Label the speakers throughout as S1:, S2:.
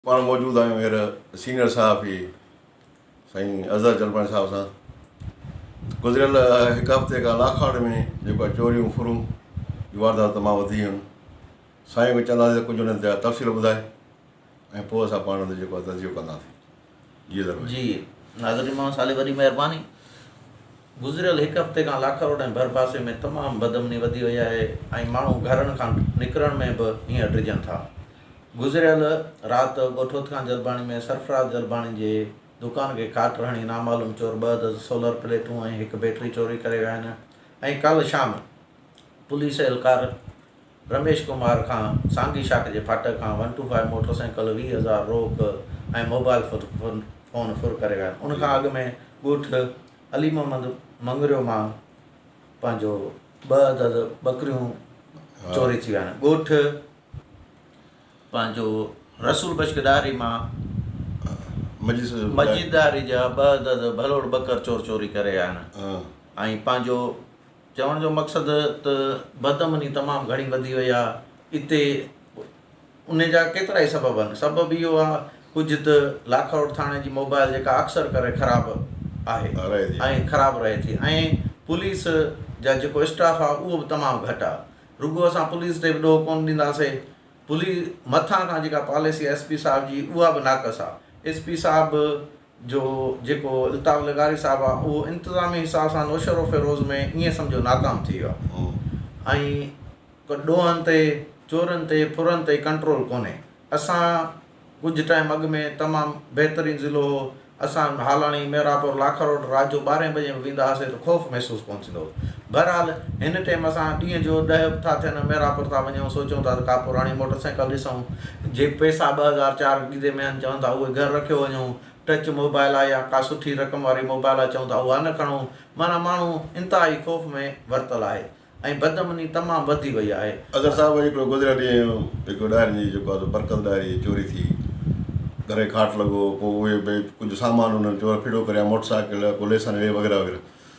S1: پاڻ موجود آهيون هينئر سينيئر صحافي سائين اظهر جلباڻي صاحب سان گذريل هڪ هفتي کان لاکاڙ ۾ جيڪو آهي چوريون ڦرون جون وارداتون تمام وڌي ويون آهن سائين کي چونداسين ته ڪجهه انهن تي تفصيل ٻڌائي ۽ پوء اسان پاڻ ان تي جيڪو آهي تجزيو ڪنداسين جي ناظرين
S2: محمد صالح وڏي مهرباني گذريل هڪ هفتي کان لاکروڊ ۽ ڀرپاسي ۾ تمام بدامني وڌي وئي آهي ۽ ماڻهو گهرن کان نڪرڻ ۾ به هينئر ڊڄن ٿا گذريل رات ڳوٺوت کان جلباڻي ۾ سرفراز جلباڻي جي دڪان کي کاٽ هڻي نامعلوم چور ٻه عدد سولر پليٽون ۽ هڪ بيٽري چوري ڪري ويا آهن ۽ ڪالهه شام پوليس اهلڪار رميش ڪمار کان سانگي شاخ جي ڦاٽڪ کان one two five motorcycle, ويهه هزار روڪ ۽ موبائل فون ڦر ڪري ويا آهن، ان کان اڳ ۾ ڳوٺ علي محمد مڱريو مان پنهنجو ٻه عدد ٻڪريون چوري ٿي ويا آهن، ڳوٺ پنهنجو رسول بشڪ ڏاهري مان مجيد ڏاهري جا ٻه عدد ڀلوڙ ٻڪر چور چوري ڪري ويا آهن ۽ پنهنجو چوڻ جو مقصد ته بد امني تمام گهڻي وڌي وئي آهي اتي ان جا ڪيترائي سبب آهن سبب اهو آهي ڪجهه ته لاکاوٽ ٿاڻي جي موبائل جيڪا اڪثر ڪري خراب آهي ۽ خراب رهي ٿي ۽ پوليس جا جيڪو اسٽاف آهي اهو به تمام گهٽ آهي رڳو اسان پوليس تي به ڏوهه ڪونه ڏينداسي پوليس مٿان کان جيڪا پاليسي ايس پي صاحب جي اها به ناقص آهي ايس پي صاحب جو جيڪو الطاف لغاري صاحب آ اهو انتظامي حساب سان نوشهروفيروز ۾ ائين سمجهو ناڪام ٿي ويو آ ۽ ڪو ڏوهن تي چورن تي ڦرن تي ڪنٽرول ڪونهي اسان ڪجهه ٽائيم اڳ ۾ تمام بهترين ضلعو هو اسان هالاڻي ميرا پور لاکروڊ رات جو ٻارهين بجي به ويندا هئاسي ته خوف محسوس ڪونه ٿيندو هو بهرحال هن ٽيم اسان ڏينهن جو ڏهه به ٿا ٿين ميرآپور ٿا وڃون سوچيون ٿا ته ڪا پراڻي موٽر سائيڪل ڏسون جي پئسا ٻه هزار چار گيدي ميهن چون ٿا اهي گهر رکيو وڃون ٽچ موبائل آ يا ڪا سٺي رقم واري موبائل آ چون ٿا اها نه کڻون معنيٰ ماڻهو انتهائي خوف ۾ ورتل آهي ۽ بدامني تمام وڌي وئي آهي. اظهر صاحب اڄ هڪڙو گذريل
S1: ڏينهن هڪڙو ڏاهرين جي جيڪو آ سو برڪت ڏاهري جي چوري ٿي گهري کاٽ لڳو پوء اهي ڀي ڪجهه سامان انهن چور ڦڙو ڪريا موٽر سائيڪل ڪو ليسن هي وغيره وغيره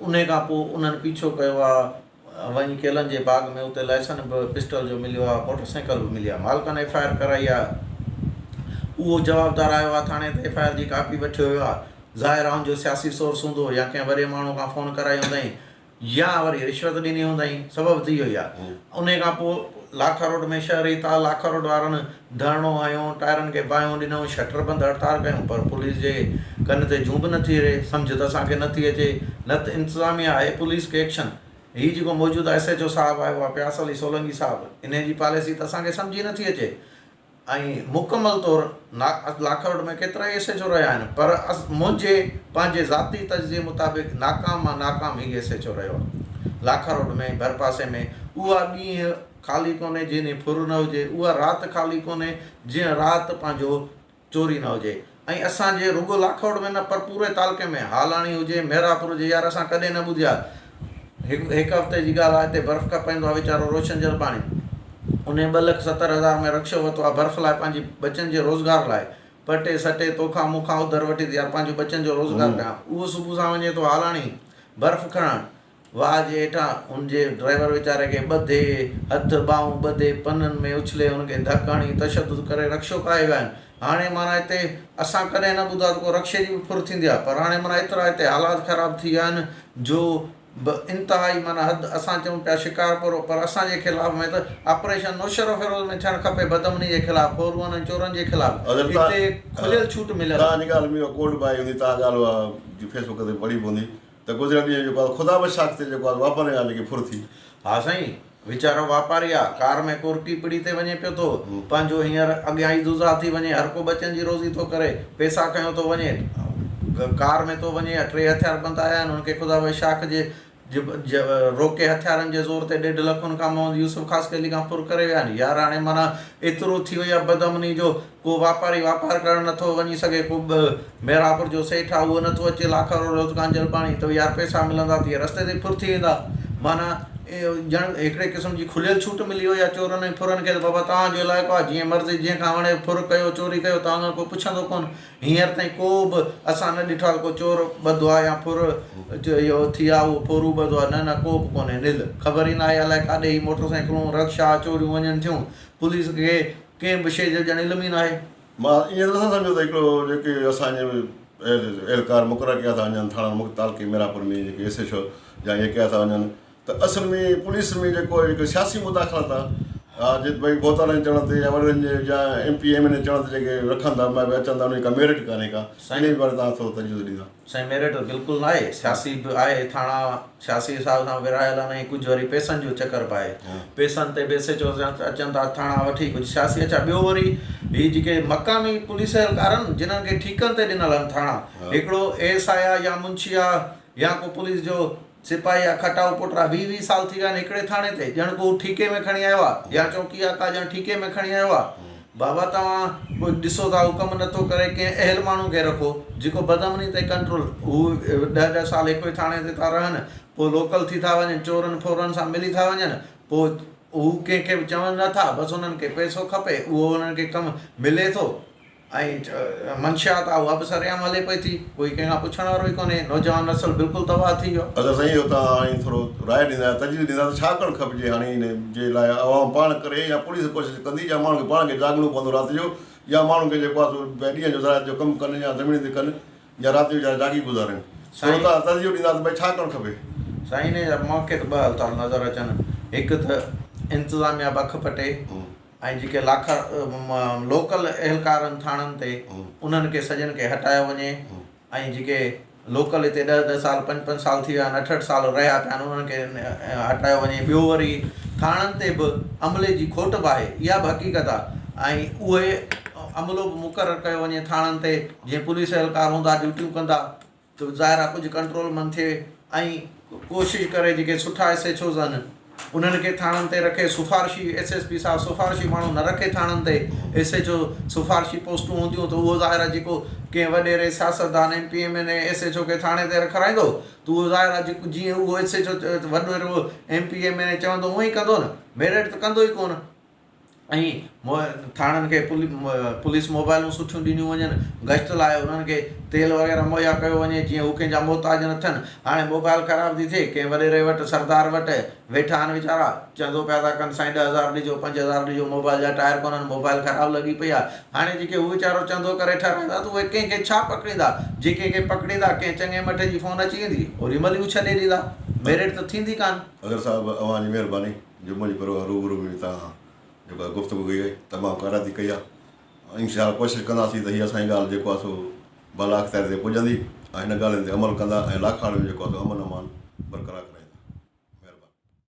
S2: انهي کان پوء انهن پيڇو ڪيو آ وڃي ڪيلن جي باغ ۾ اتي لائسن به پسٽل جو مليو آ موٽر سائيڪل به ملي آ مالڪن ايف آء آر ڪرائي آ اهو جوابدار آيو آ ٿاڻي ته ايف آء آر جي ڪاپي وٺي ويو آ ظاهر آ ان جو سياسي سورس هوندو يا ڪنهن وڏي ماڻهو کان فون ڪرائي هوندائين يا وري رشوت ڏني هوندائين سبب ته اهو ئي آ انهي کان پوء لاکاروڊ ۾ شهري تاء لاکاروڊ وارن ڌرڻو هنيو، ٽائرن کي باهيون ڏنيون، شٽر بند هڙتال ڪيون پر پوليس جي ڪن تي جون به نه ٿي رهي، سمجهه ته اسان کي نه ٿي اچي، نه ته انتظاميا آهي پوليس کي ايڪشن، هي جيڪو موجوده ايس ايڇ او صاحب آهي اها پياس علي سولنگي صاحب انهي جي پاليسي ته اسان کي سمجهه ئي نه ٿي اچي ۽ مڪمل طور لاکرود ۾ ڪيترائي ايس ايڇ او رهيا آهن پر منهنجي پنهنجي ذاتي تجزيي مطابق ناڪام مان ناڪام هي ايس ايڇ او رهيو آهي لاکرود ۾ ڀرپاسي ۾ اها ڏينهن خالي ڪونهي جنهن ڏينهن ڦر نه هجي، اها رات خالي ڪونهي جنهن رات پنهنجو چوري نه هجي ۽ اسان جي رڳو لاکوٽ ۾ نه پر پوري تعلقي ۾ هالاڻي هجي مهراپور هجي يار اسان ڪڏهن نه ٻڌي آهي هڪ هڪ هفتي جي ڳالهه آهي هتي برف کپ ايندو آهي ويچارو روشن جرباڻي انهي ٻه لک ستر هزار ۾ رڪشو ورتو آهي برف لاء پنهنجي ٻچن جي روزگار لاء پٽي سٽي توکان مون کان اڌر وٺي ته يار پنهنجي ٻچن جو روزگار ڪيان اهو صبح سان وڃي ٿو هالاڻي برف کڻڻ واهه جي هيٺان هن جي ڊرائيور ويچاري کي ٻڌي، هٿ ٻانهون ٻڌي، پنن ۾ اڇلي، هن کي ڌڪ هڻي، تشدد ڪري رڪشو ڪاهي ويا آهن. هاڻي معنيٰ هتي اسان ڪڏهن نه ٻڌو آهي ته ڪو رڪشي جي به ڦر ٿيندي آهي، پر هاڻي معنيٰ ايترا هتي حالات خراب ٿي ويا آهن جو به انتهائي معنيٰ حد اسان چئون پيا شڪارپور پر اسان جي خلاف ۾ ته آپريشن نوشهروفيروز ۾ ٿيڻ کپي بدامني جي خلاف ڦورون ۽ چورن جي خلاف هتي کليل ڇوٽ مليل
S1: آهي. ته گذريل ڏينهن جيڪو آهي خدا به شاخ تي جيڪو آهي واپارين ڳالهه لڳي ڦر ٿي. ها سائين،
S2: ويچارو واپاري آ، ڪار ۾ ڪورٽي پڙي تي وڃي پيو ٿو، پنهنجو هينئر اڳيان ئي دزها ٿي وڃي، هر ڪو ٻچن جي روزي ٿو ڪري، پئسا کنيو ٿو وڃي، ڪار ۾ ٿو وڃي، اها ٽي هٿيار بند آيا آهن، هن کي خدا به شاخ جي روڪي هٿيارن جي زور تي ڏيڍ لک هن کان محمد يوسف خاصخيلي کان ڦر ڪري ويا آهن، يار هاڻي معنيٰ ايترو ٿي وئي آ بدامني جو ڪو واپاري واپار ڪرڻ نٿو وڃي سگهي، ڪو به ميرانپور جو سيٺ آ اهو نٿو اچي لاکارو روز ڪانجهل پاڻي ته يار پئسا ملندا ته اهي رستي تي ڦر ٿي ويندا معنيٰ ڄڻ هڪڙي قسم جي کليل ڇوٽ ملي وئي آ چورن ۽ ڦرن کي ته بابا توهان جو علائقو آ جيئن مرضي جنهن کان وڻي ڦر ڪيو چوري ڪيو توهان کان ڪو پڇندو ڪونه هينئر تائين ڪو به اسان نه ڏٺو آ ته ڪو چور ٻڌو آ يا ڦر اهو ٿي آ اهو ڦورو ٻڌو آ نه نه ڪو به ڪونهي نل خبر ئي ناهي الائي ڪاڏي هي موٽر سائيڪلون رڪشا چوريون وڃن ٿيون پوليس کي ڪنهن به شيء جو ڄڻ علم ئي ناهي. مان ائين ته نٿو
S1: سمجهان ته هڪڙو جيڪي اسان جي اهلڪار مقرر ڪيا ٿا وڃن ٿاڻن مختلف تعلقي ميرانپور ۾ جيڪي ايس ايڇ او جا ائين ڪيا ٿا وڃن ته اصل ۾ پوليس ۾ جيڪو هڪ سياسي مداخلت آ آ جي ڀئي ڀوتارن چڙهڻ تي يا وڏڙن جي جا M P M N A چڙهڻ تي جيڪي رکن ٿا اچن ٿا انهن جي ڪا ميرٽ ڪانهي ڪا سائين انهي باري توهان ٿورو تجزيو ڏيندا. سائين ميرٽ ته بلڪل
S2: ناهي سياسي به آهي ٿاڻا سياسي حساب سان ورهايل آهن ۽ ڪجهه وري پيسن جو چڪر به آهي پيسن تي به ايس ايچ او اچن ٿا ٿاڻا وٺي ڪجهه سياسي اڇا ٻيو وري هي جيڪي مقامي پوليس اهلڪار آهن جنهن کي ٺيڪن تي ڏنل آهن ٿاڻا هڪڙو اي ايس آء آهي يا منشي آهي يا ڪو پوليس جو سپاهي آ کٽائو پٽرا ويهه ويهه سال ٿي ويا آهن هڪڙي ٿاڻي تي ڄڻ ڪو هو ٺيڪي ۾ کڻي آيو آهي يا چونڪي آ ڪا ڄڻ ٺيڪي ۾ کڻي آيو آهي بابا توهان به ڏسو ٿا هو ڪم نٿو ڪري ڪنهن اهل ماڻهو کي رکو جيڪو بدامني تي ڪنٽرول هو ڏهه ڏهه سال هڪوئي ٿاڻي تي ٿا رهن پوء لوڪل ٿي ٿا وڃن چورن ڦورن سان ملي ٿا وڃن پوء هو ڪنهن کي به چون نٿا بس هنن کي پئسو کپي اهو هنن کي ڪم ملي ٿو. ۽ منشيات آ اها به سرعام هلي پئي ٿي، ڪوئي ڪنهن کان پڇڻ وارو ئي ڪونهي، نوجوان نسل بلڪل تباهه ٿي ويو. اگر سائين اهو توهان هاڻي
S1: ٿورو راء ڏيندا يا تجويز ڏيندا ته ڇا ڪرڻ کپجي هاڻي ان جي لاء عوام پاڻ ڪري يا پوليس ڪوشش ڪندي يا ماڻهن کي پاڻ کي جاڳڻو پوندو رات جو يا ماڻهن کي جيڪو آ سو ڀئي ڏينهن جو زراعت جو ڪم ڪن يا زمين تي ڪن يا رات جو ويچارا جاڳي گذارين ٿورو توهان تجزيو ڏيندا ته ڀئي ڇا ڪرڻ کپي. سائين انهي جا
S2: مونکي ته ٻه حل ٿا نظر اچن هڪ ته انتظاميا بک پٽي. ۽ جيڪي لاکر لوڪل اهلڪارن ٿاڻن تي انهن کي سڄن کي هٽايو وڃي ۽ جيڪي لوڪل هتي ڏهه ڏهه سال پنج پنج سال ٿي ويا آهن اٺ اٺ سال رهيا پيا آهن انهن کي هٽايو وڃي ٻيو وري ٿاڻن تي به عملي جي کوٽ به آهي اها به حقيقت آهي ۽ اهي عملو به مقرر ڪيو وڃي ٿاڻن تي جيئن پوليس اهلڪار هوندا ڊيوٽيون ڪندا ٿو ظاهر آهي ڪجهه ڪنٽرول من ٿئي ۽ ڪوشش ڪري جيڪي سٺا ايس ايڇ اوز آهن انهن کي ٿاڻن تي رکي سفارشي ايس ايس پي صاحب سفارشي ماڻهو نه رکي ٿاڻن تي ايس ايڇ او سفارشي پوسٽون هونديون ته اهو ظاهر آهي جيڪو ڪنهن وڏيري سياستدان M P M N A S H O کي ٿاڻي تي رکرائيندو ته اهو ظاهر آهي جيڪو جيئن اهو ايس ايڇ او وڏيرو M P M N A چوندو اهئين ڪندو نه ميرٽ ته ڪندو ئي ڪونه ۽ ٿاڻن کي پوليس موبائلون سٺيون ڏنيون وڃن گشت لاء انهن کي تيل وغيره مهيا ڪيو وڃي جيئن هو ڪنهن جا محتاج نه ٿين هاڻي موبائل خراب ٿي ٿئي ڪنهن وڏيري وٽ سردار وٽ ويٺا آهن ويچارا چندو پيا ٿا ڪن سائين ڏهه هزار ڏجو پنج هزار ڏجو موبائل جا ٽائر ڪونهن موبائل خراب لڳي پئي آهي هاڻي جيڪي هو ويچارو چندو ڪري ٺهرائيندا ته اهي ڪنهن کي ڇا پڪڙيندا جي ڪنهن کي پڪڙيندا ڪنهن چڱي مٺ جي فون اچي ويندي اوري مهل ئي هو ڇڏي ڏيندا ميرٽ ته ٿيندي ڪانه. اگر صاحب اوهان جي
S1: مهرباني. جمعي جي پروهه روبرو به هتان جيڪو آهي گفتگو ڪئي آهي تمام ڪارائتي ڪئي آهي ۽ انشاء الله ڪوشش ڪنداسين ته هي اسان جي ڳالهه جيڪو آهي سو بالا اختيارين تائين پڄندي ۽ هن ڳالهين تي عمل ڪندا ۽ لاکاڻي ۾ جيڪو آهي سو امن امان برقرار ڪرائيندا مهرباني.